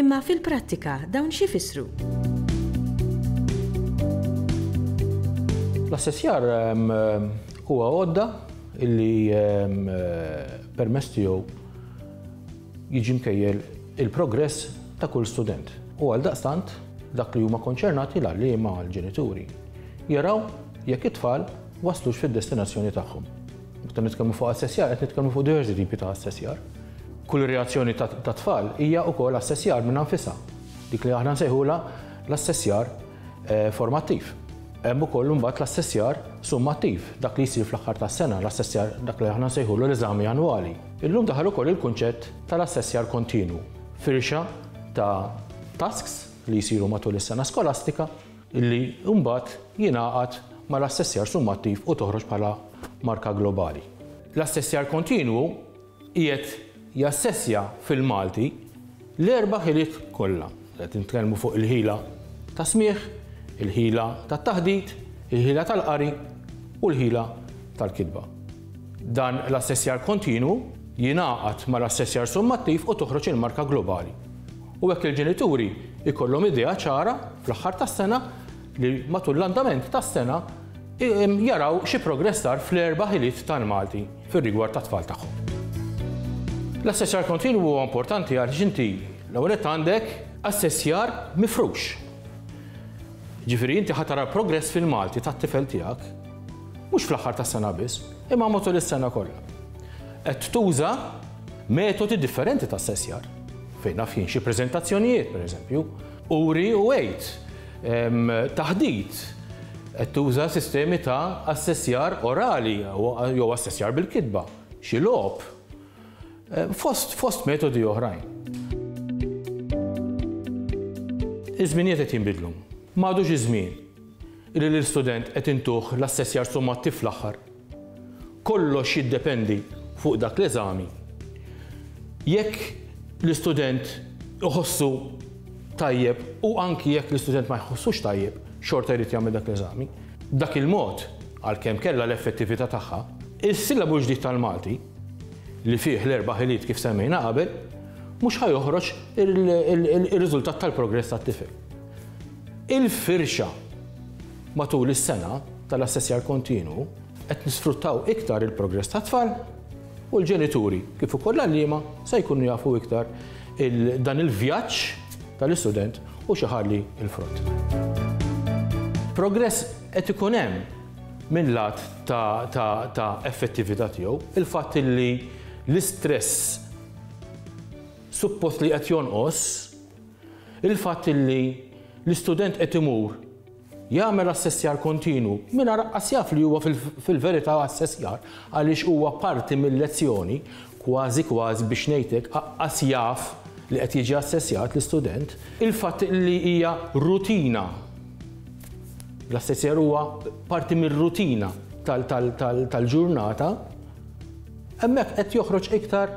Imma fil-prattika dawn x'ifissru? L-assessjar huwa għodda li permess tiegħu jiġi mkejjel il-progress ta' kull student. U għal daqstant dak li huma konċernati l-għalliema għall-ġenituri jaraw jekk it-tfal waslux fid-destinazzjoni tagħhom. Meta nitkellmu fuq assessjar qed nitkellmu fuq diversi tipi ta' assessjar. Kull reazzjoni ta' tfal hija wkoll assessjar minnha nfisha, dik li aħna nsejħulha l-assessjar eh, formattiv. Hemm ukoll imbagħad l-assessjar summattiv, dak li jsir fl-aħħar tas-sena, l-assessjar dak li aħna nsejħulu l-eżami annwali. Illum daħal ukoll il-kunċett tal-assessjar kontinwu, firxa ta' tasks li jsiru matul is-sena skolastika li mbagħad jingħaqad mal-assessjar summattiv u toħroġ bħala marka globali. L-assessjar kontinwu qiegħed jassessja fil-Malti l-erba' ħiliet kollha. Qed nitkellmu fuq il-ħila tas-smigħ, il-ħila tat-taħdit, il-ħila tal-qari u l-ħila tal-kitba. Dan l-assessjar kontinwu jingħaqad mal-assessjar summattiv u toħroġ il-marka globali. U hekk il-ġenituri jkollhom idea ċara fl-aħħar tas-sena li matul l-andament tas-sena jaraw xi progress sar fl-erba' ħiliet tal-Malti fir-rigward tat-tfal tagħhom. L-assessjar kontinwu huwa importanti għaliex inti l-ewwel nett għandek assessjar mifrux. Jiġifieri inti ħa tara progress fil-Malti tat-tifel tiegħek mhux fl-aħħar tas-sena biss, imma matul is-sena kollha. Qed tuża metodi differenti ta' assessjar. Fejn naf jien xi preżentazzjonijiet, pereżempju, uri u għid taħdit qed tuża sistemi ta' assessjar orali jew assessjar bil-kitba, xi logħob, fost fost metodi oħrajn. Iż-żminijiet qed jinbidlu. M'għadux iż-żmien li lill-student qed intuh l-assessjar sommattiv fl-aħħar. Kollox jiddependi fuq dak l-eżami. Jekk l-istudent iħossu tajjeb u anki jekk l-istudent ma jħossux tajjeb, xorta jrid jagħmel dak l-eżami. B'dak il-mod, għalkemm kellha l-effettività tagħha, is-Sillabu ġdid tal-Malti, li fih l-erba' ħiliet kif semmejna qabel, mhux ħa joħroġ ir-riżultat tal-progress tat-tifel. il-firxa matul is-sena tal-assessjar kontinwu, qed nisfruttaw iktar il-progress tat-tfal u l-ġenituri kif ukoll l-għalliema se jkunu jafu iktar dan il-vjaġġ tal-istudent u x'iħalli l-frott. Progress qed ikun hemm minn lat ta' effettività tiegħu, il-fatt li l-istress suppost li qed jonqos, Il-fatt li l-istudent qed imur jagħmel assessjar kontinwu mingħajr aqqas jaf li huwa fil-verità assessjar għaliex huwa parti mil-lezzjoni, kważi kważi biex ngħid hekk aqqas jaf li qed jiġi assessjat l-istudent, il-fatt li hija rutina, l-assessjar huwa parti mir-rutina tal-ġurnata, hemmhekk qed joħroġ iktar